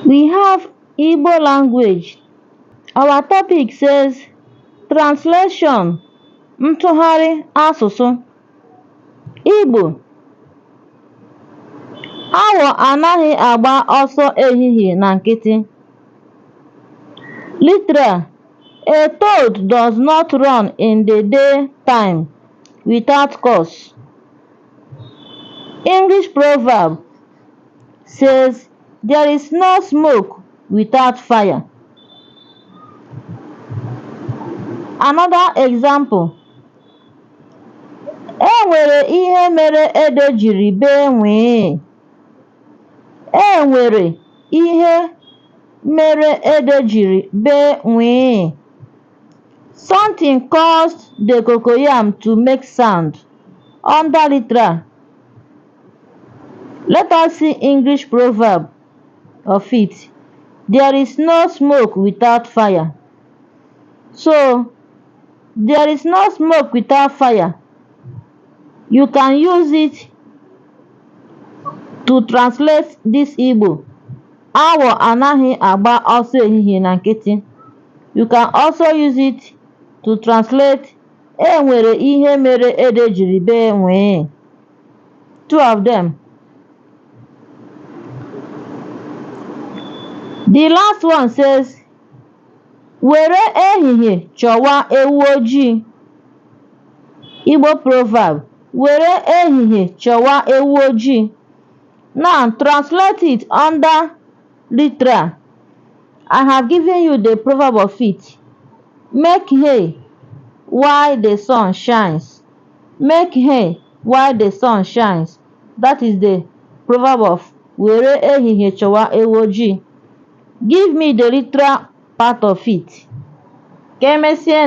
We have Igbo language. Our topic says translation ntụgharị asụsụ Igbo awọ anaghị agba ọsọ ehihie na nkịtị. Literal A toad does not run in the day time without cause. English proverb says, There is no smoke without fire. Another example. E nwere ihe mere ede jiri bee nwee. E nwere ihe mere ede jiri bee nwee. Something caused the cocoyam to make sound under literal. Let us see English proverb of it. There is no smoke without fire. So, there is no smoke without fire. You can use it to translate this Igbo. Awọ anaghị agba ọsọ ehihie na nkịtị. You can also use it to translate E nwere ihe mere ede jiri bee nwee. Two of them. The last one says, Were ehihie chọwa ewu ojii. Igbo proverb, Were ehihie chọwa ewu ojii. Now translate it under Literal, I have given you the proverb of it, Make hay while the sun shines. Make hay while the sun shines. That is the proverb of were ehihie chọwa ewu ojii. Give me the literal part of it. Ka emesịa